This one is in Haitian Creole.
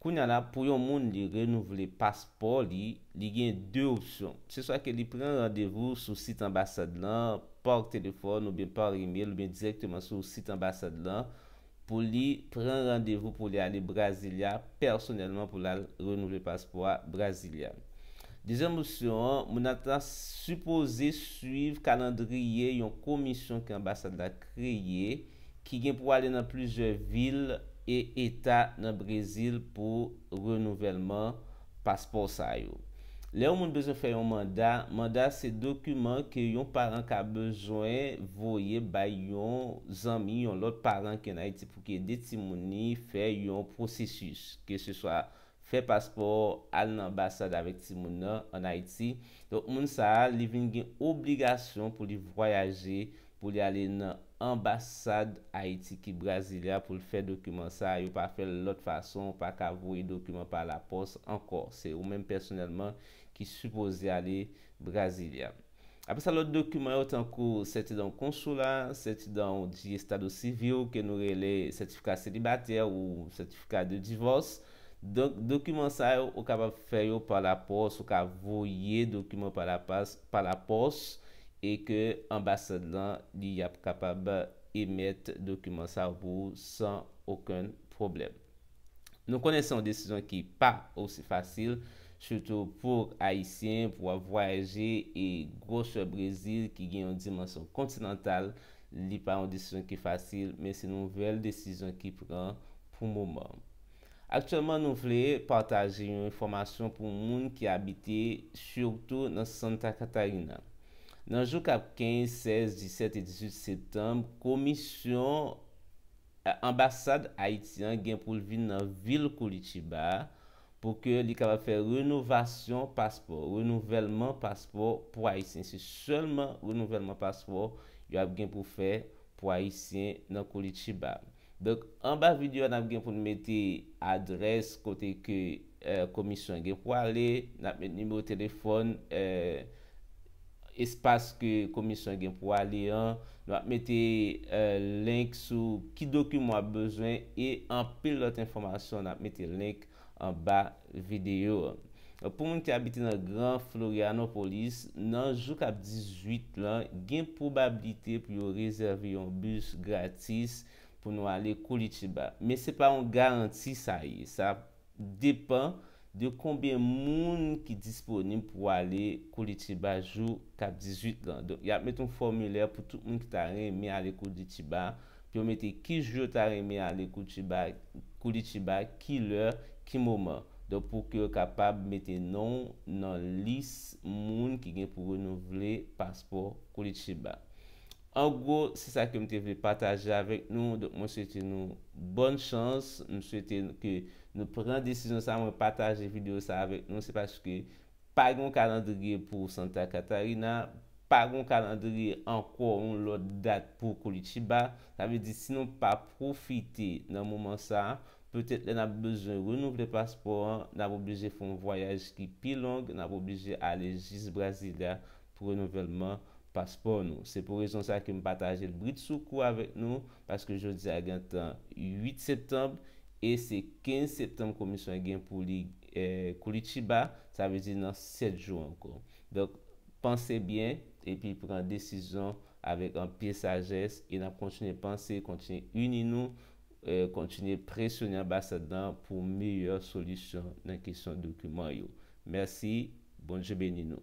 Kounya la pou yon moun li renouvle paspò li, li gen 2 opsyon. Se swa ke li pran randevou sou sit anbasad lan pa telefòn oubyen pa email oubyen dirèkteman sou sit anbasad lan pou li pran randevou pou li ale Brasilia pèsonèlman pou lal renouvle paspò a Brasilia. Dezyèm opsyon an, moun nan ta sipoze swiv kalandriye yon komisyon ke anbasad la kreye ki gen pou ale nan plizyè vil e eta nan Brezil pou renouvèlman paspò sa yo. Lè yon moun bezwen fè yon manda, manda se dokiman ke yon paran ka bezwen voye bay yon zanmi, yon lòt paran ki an Ayiti pou ki ede timoun ni fè yon pwosesis, ke se swa fè paspò al nan anbasad avèk timoun nan an Ayiti, donk moun sa a li vin gen obligasyon pou li vwayaje pou li ale nan anbasad Ayiti ki Brasilia pou l fè dokiman sa a, yo pa fè l lòt fason, ou pa ka voye dokiman pa lapòs ankò, se ou menm pèsonèlman ki sipoze ale Brasilia. Apre sa lòt dokiman yo tankou sètidan ou konsula, sètidan ou di estad ou sivil ke nou rele sètifika selibatè ou sètifika de divòs. Donk dokiman sa yo ou kapab fè yo pa lapòs, ou ka voye dokiman pa lapas, pa lapòs e ke anbasad lan li y ap kapab emèt dokiman sa yo pou ou san okenn pwoblèm. Nou konnen se yon desizyon ki pa osi fasil, sitou pou Ayisyen, pou wap vwayaje e gwosè Brezil ki gen yon dimansyon kontinantal, li pa yon desizyon ki fasil, men se nouvèl desizyon ki pran pou moman. Aktyèlman nou vle pataje yon enfòmasyon pou moun ki abite sitou nan Santa Catarina. Nan jou kap 15, 16, 17 e 18 septanm, komisyon. Anbasad Ayiti an gen pou l vin nan vil Koulitiba a pou ke li kapab fè renovasyon paspò, renouvèlman paspò pou Ayisyen. Se sèlman renouvèlman paspò yo ap gen pou fè pou Ayisyen nan Koulitiba. Donk anba videyo a n ap gen pou n mete adrès kote ke Komisyon an gen pou ale, n ap met nimewo telefòn espas ke Komisyon an gen pou ale an, nou ap mete link sou ki dokiman w ap bezwen e anpil lòt enfòmasyon, n ap mete link anba videyo an. Pou moun ki abite nan Gran Florianopolis, nan jou k ap 18 lan, gen pwobabilite pou yo rezève yon bis gratis pou nou ale Koulitiba. Men se pa yon garanti sa ye, sa depan de konbyen moun ki disponib pou ale Koulitiba jou kap 18 lan. Donk yap met yon fòmilè pou tout moun ki ta renmen ale Koulitiba, pou yo mete ki jou yo ta renmen ale Koulitiba, ki lè, ki moman. Donk pou ke yo kapab mete non w nan lis moun ki gen pou renouvle paspò Koulitiba. An gwo, se sa ke m te vle pataje avèk nou, donk mwen swete nou bòn chans, m swete ke nou pran desizyon sa, mwen pataje videyo sa avèk nou se paske pa gen yon kalandriye pou Santa Catarina, pa gen yon kalandriye ankò yon lòt dat pou Curitiba, sa vle di si nou pa pwofite nan moman sa, petèt lè n ap bezwen renouvle paspò an, n ap oblije fè yon vwayaj ki pi long, n ap oblije ale jis Brasilia pou renouvèlman paspò nou. Se pou rezon sa ke m pataje l bridsoukou avèk nou, paske jodi a gentan 8 septanb, e se 15 septanb Komisyon an gen pou li Koulitiba, sa vle di nan 7 jou ankò. Donk, panse byen, epi pran desizyon avèk anpil sajès, e n ap kontinye panse, kontinye ini nou, kontinye presyone Anbasad lan pou meyè solisyon nan kesyon dokiman yo. Mèsi, Bondye beni nou.